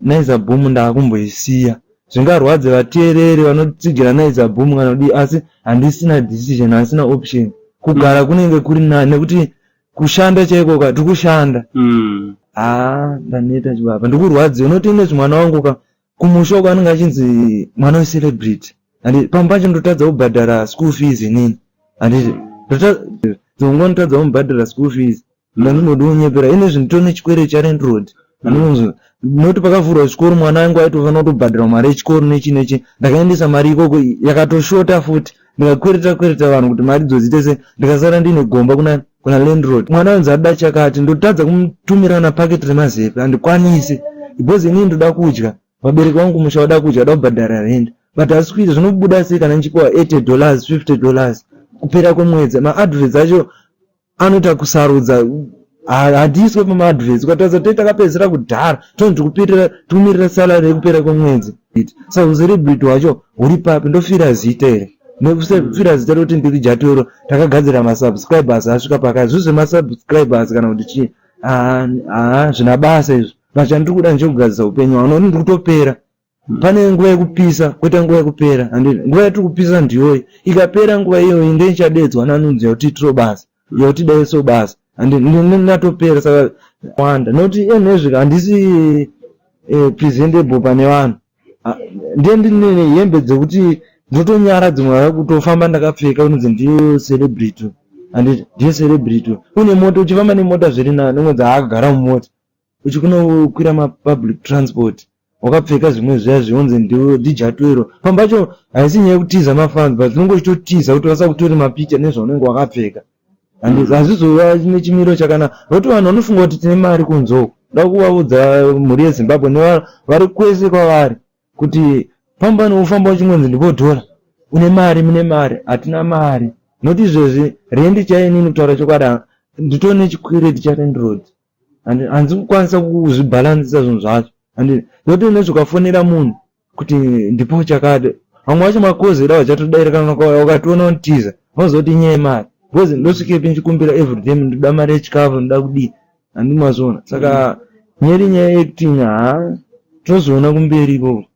Naiza Boom ndakumboisiya. Zvingarwadze vateereri vanotsigira Naiza Boom kana kudii asi handisina decision handisina option. Kugara kunenge kuri nani nekuti kushanda chaiko ka tikushanda. Mm. Haa ndaneta chibaba ndikurwadze unoti ine zvimwana wangu ka kumusha uko anenge achinzi mwana wecelebrity and pamwe pacho ndotadza kubhadhara school fees inini handiti ndongonotadza kumubhadhara school fees Landlord onyepera ini zvinhu tone chikwere chalandlord anonzi not pakavhurwa chikoro mwana wangu aitofanira kutobhadhira mari yechikoro nechi nechi ndakaendesa mari ikoko yakatoshota futi ndikakwereta kwereta vanhu kuti mari dzodzite se ndikasara ndine gomba kuna kuna landlord mwana wanzi ada chakati ndotadza kumutumira na packet remazepe andikwanise because inini ndoda kudya vabereki vangu musha vada kudya vada kubhadhara rent but asi kuita zvinobuda sei kana ndichipiwa 80 dollars 50 dollars kupera kwemwedzi maadverts acho anoita kusarudza hatiiswe pamaadvets ukataza tei takapedzisira kudhara toni tikupirira tikumirira salary yekupera kwemwedzi sa ucelebrity wacho huri papi ndofira zita here nefira zita rekuti ndiri jatoro takagadzira masubscribers asvika pakai zvi zvemasubscribers kana kuti chii haa zvina basa izvo vachani tiri kuda ndichekugadzisa upenyu hwavo nokuti ndiri kutopera pane nguva yekupisa koita nguva yekupera and nguva yatiri kupisa ndiyoyi ikapera nguva iyoyi ndeichadedzwa nanunzi yakuti itiro basa yakuti daiso basa and natopera saka wanda nokuti enezvika handisi eh, presentable pane vanhu ah, ndiye ndine hembe dzekuti ndotonyara dzimwe vava kutofamba ndakapfeka unonzi ndiyo celebrity and ndiyo celebrity une moto uchifamba nemota zviri nani unonzi haagara mumota uchikunokwira mapublic transport wakapfeka zvimwe zviya zvionzi ndiwo dijatuero pambacho haisi nyaya yekutiza mafans but unenge uchitotiza kuti vasakutore mapicha nezvaunenge wakapfeka and hazvizova nechimiro chakanaka nokuti vanhu vanofunga kuti tine mari kunzoko da kuvaudza mhuri yezimbabwe nevanhu vari kwese kwavari kuti famba nokufamba uchingonzi ndibodhora une mari mune mari hatina mari noti izvezvi rendi chainini kutaura chokwadi nditone chikwireti charendiroad and hanzi kukwanisa kuzvibhalansisa zvinhu zvacho and zoti unoti ukafonera munhu kuti ndipo chakati vamwe vacho makozi edawa chatodaira kana ukationa untiza unozoti nyaya yemari because ndosvikepi ndichikumbira everyday ndinoda mari yechikafu ndinoda kudii handimazviona saka nyeri nyaya yekuti haa tozoona kumberi ikoko